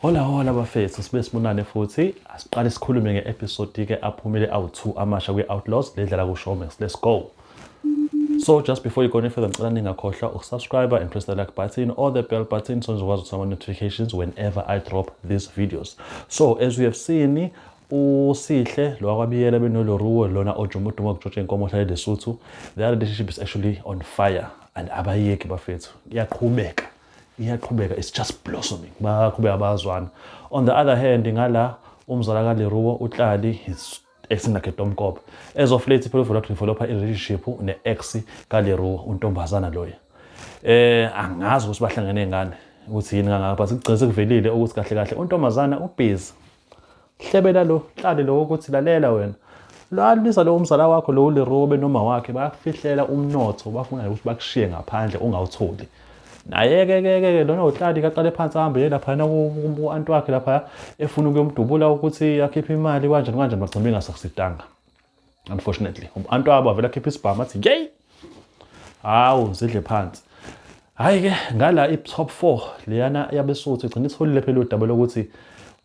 Hola hola bafethu sibe sibonane futhi asiqale sikhulume nge-episode ke aphumile awu-2 amasha kwi-outlaws ledlala ku-showmax let's go so just before you go any further ngicela ningakhohlwa ukusubscribe and press the like button or the bell button so nizokwazi ukuthola ama-notifications whenever i drop these videos so as we have seen usihle lo wakwabiyela benoloruwo lona ojumuduma ukujotsha inkomo ohlale lesuthu the relationship is actually on fire and abayeki bafethu iyaqhubeka iyaqhubeka it's just blossoming baqhubeka bazwana on the other hand ngala umzala kaleruwo utlali is acting like a domkopa as of late people for developer in relationship ne ex kaleruwo untombazana loya eh angazi ukuthi bahlangene ngani ukuthi yini kangaka but kugcine sekuvelile ukuthi kahle kahle untombazana ubhizi hlebela lo hlale lo ukuthi lalela wena lwalisa lowo mzala wakho lowo lerowo benoma wakhe bayakufihlela umnotho bafuna ukuthi bakushiye ngaphandle ungawutholi naye-ke ke ke lona uhlali kaqale phansi ahambe ye laphayana ku-anti wakhe laphaya efuna ukuyomdubula ukuthi akhiphe imali kanjani kanjani bagcina bengasakusitanga unfortunately umntu wabo avele akhiphe isibhamu athi yey hawu zidle phansi hhayi ke ngala i-top four leyana yabesuthu igcina isiholile phela udaba lokuthi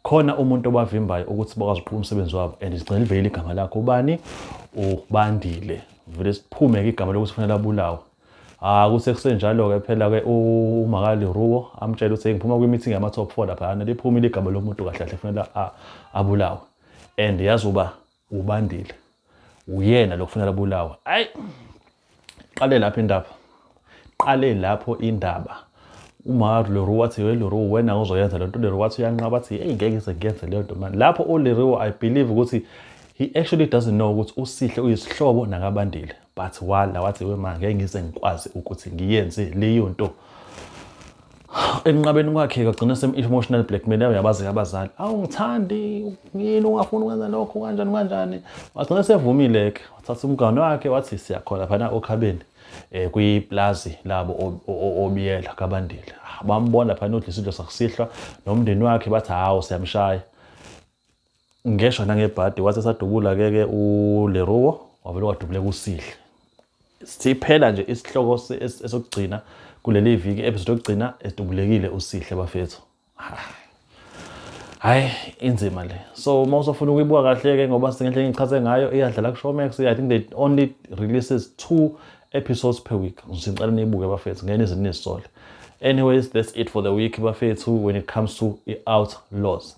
khona umuntu obavimbayo ukuthi bakwazi ukuqhuba umsebenzi wabo and sigcina livelile igama lakho ubani ubandile vele siphume-ke igama lokuthi kufanele abulawe Ah kuse kusenjalo ke phela ke uMakali Ruwo amtshela ukuthi ngiphuma kwi meeting yama top 4 lapha ana liphumile igama lomuntu kahle kahle kufanele abulawe and yazi uba Ubandile. Uyena lo kufunela bulawa. Ayi. Qale lapha indaba. Qale lapho indaba. Uma Leroe wathi we Leroe wena uzoyenza le nto Leroe wathi uyanqaba athi hey ngeke ngize ngiyenze leyo nto manje. Lapho uLeroe I believe ukuthi he actually doesn't know ukuthi uSihle uyisihlobo nakabandile. but wala wathi wema ngeke ngize ngikwazi ukuthi ngiyenze leyo nto enqabeni kwakhe kagcina semi-emotional blackmail yayo yabazi abazali awungithandi yini ungafuni ukwenza lokho kanjani kanjani wagcina sevumile-ke wathatha umgano wakhe wathi siyakhona phana okhabeni um kwiplazi labo obiyela kabandile ah, bambona phana udla isidlo sakusihlwa nomndeni wakhe bathi hawu siyamshaya ngeshwa nangebhadi wathi esadubula ke ke uleruwo wavele wadubuleka usihle siphela nje isihloko esokugcina kuleli viki episode yokugcina edubulekile usihle bafethu hayi inzima le so uma usofuna ukuyibuka kahle ke ngoba singenhle ngichaze ngayo iyadlala ku-showmax i think they only releases two episodes per week ngicela niyibuke bafethu ngeke nize nizisole anyways that's it for the week bafethu when it comes to i-outlaws